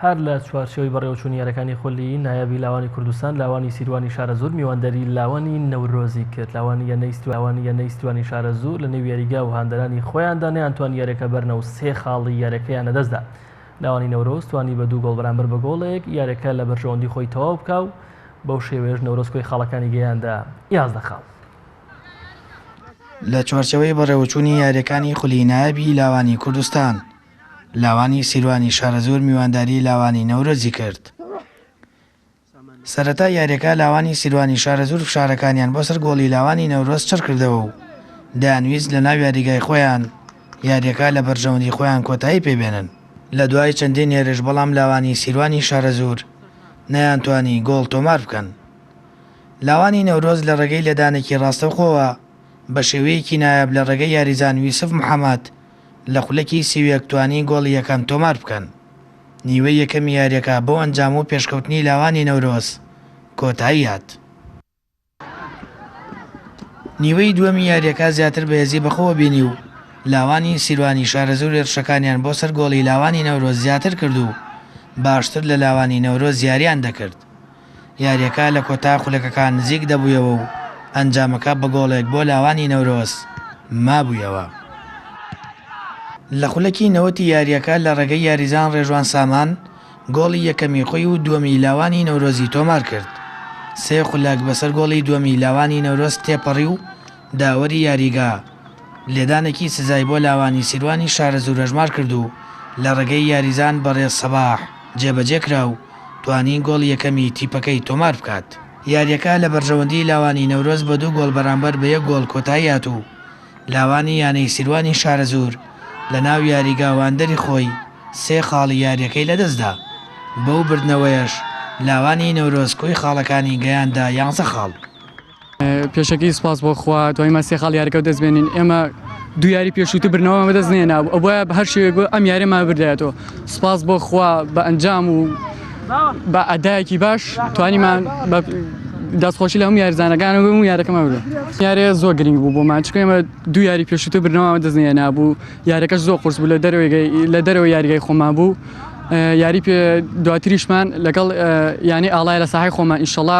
هەر لە چوارچێوەی بەڕێوەچوونی یارەکانی خولی نایابی لاوانی کوردستان، لاوانی سیروانی شارەزوور میوانداری لاوانی نەورۆزی کرد، لاوانییە سیروانی شارەزوور لە نێو یاریگا و هاندەرانی خۆیاندا نەیانتوانی یاریەکە بەرنە و سێ خاڵی یاریەکەیان لەدەست دا، لاوانی نەورۆز توانی بە دوو گۆڵ بەرامبەر بە گۆڵێک یاریەکە لە بەرژەوەندی خۆی تەواو بکا و بەو شێوەیەش نەورۆز کۆی خاڵەکانی گەیاندە یازدە خاڵ. لە چوارچێوەی بەڕێوەچوونی یاریەکانی خولی نایابی لاوانی کوردستان، لاوانی سیروانی شارەزوور میوانداری لاوانی نەورۆزی کرد. سەرەتای یاریەکە لاوانی سیروانی شارەزوور فشارەکانیان بۆ سەر گۆڵی لاوانی نەورۆز چڕکردەوە و دەیانویست لە ناو یاریگای خۆیان یاریەکە لە بەرژەوەندی خۆیان کۆتایی پێ بێنن، لە دوای چەندین هێرش بەڵام لاوانی سیروانی شارەزوور نەیانتوانی گۆڵ تۆمار بکەن. لاوانی نەورۆز لە ڕێگەی لێدانێکی ڕاستەوخۆوە بە شێوەیەکی نایاب لە ڕێگەی یاریزان یوسف محەمەد، لە خولەکی سی و یەک توانی گۆڵی یەکەم تۆمار بکەن. نیوەی یەکەمی یارییەکە بەو ئەنجام و پێشکەوتنی لاوانی نەورۆز کۆتایی هات. نیوەی دووەمی یارییەکە زیاتر بە هێزی بەخۆوە بینی و لاوانی سیروانی شارەزوور هێرشەکانیان بۆ سەر گۆڵی لاوانی نەورۆز زیاتر کرد و باشتر لە لاوانی نەورۆز یارییان دەکرد. یارییەکە لە کۆتا خولەکەکان نزیک دەبوویەوە و ئەنجامەکە بە گۆڵێک بۆ لاوانی نەورۆز مابوویەوە. لە خولەکی نەوەتی یارییەکە لە ڕێگەی یاریزان ڕێژوان سامان گۆڵی یەکەمی خۆی و دووەمی لاوانی نەورۆزی تۆمارکرد، سێ خولەک بەسەر گۆڵی دووەمی لاوانی نەورۆز تێپەڕی و داوەری یاریگا، لێدانێکی سزای بۆ لاوانی سیروانی شارەزوور هەژمار کرد و لە ڕێگەی یاریزان بەڕێز سەباح جێبەجێکرا و توانی گۆڵی یەکەمی تیپەکەی تۆمار بکات. یارییەکە لە بەرژەوەندی لاوانی نەورۆز بە دوو گۆڵ بەرامبەر بە یەک گۆڵ کۆتایی هات و لاوانی یانەی سیروانی شارەزوور لە ناو یاریگا واندەری خۆی سێ خاڵی یارییەکەی لەدەستدا، بەو بردنەوەیەش لاوانی نەورۆز کۆی خاڵەکانی گەیاندە یانزە خاڵ. پێشەکی سپاس بۆ خوا توانیمان سێ خاڵی یاریەکە دەست بێنین ئێمە دو یاری پێشووتر برنەوەمان بەدەست نێنا ئەو بۆیە بە هەر شێوێک بۆ ئەم یاریمان بردایەتەوە سپاس بۆ خوا بە ئەنجام و بە ئەدایەکی باش توانیمان بە دەستخۆشی لە هەم یارزانەکان بم و یارەکەمان بێ یارێ زۆر گرنگ بوو بۆمان چکە ئێمە دو یاری پێشووتر برنەوەمان دەست نێنا بوو یارەکەش زۆر قرس بوو لە دەرەوەی لە دەرەوە یاریگای خۆمان بوو یاری پێ دواتریشمان لەگەڵ یانی ئاڵای لە ساحی خۆمان ئیشەڵا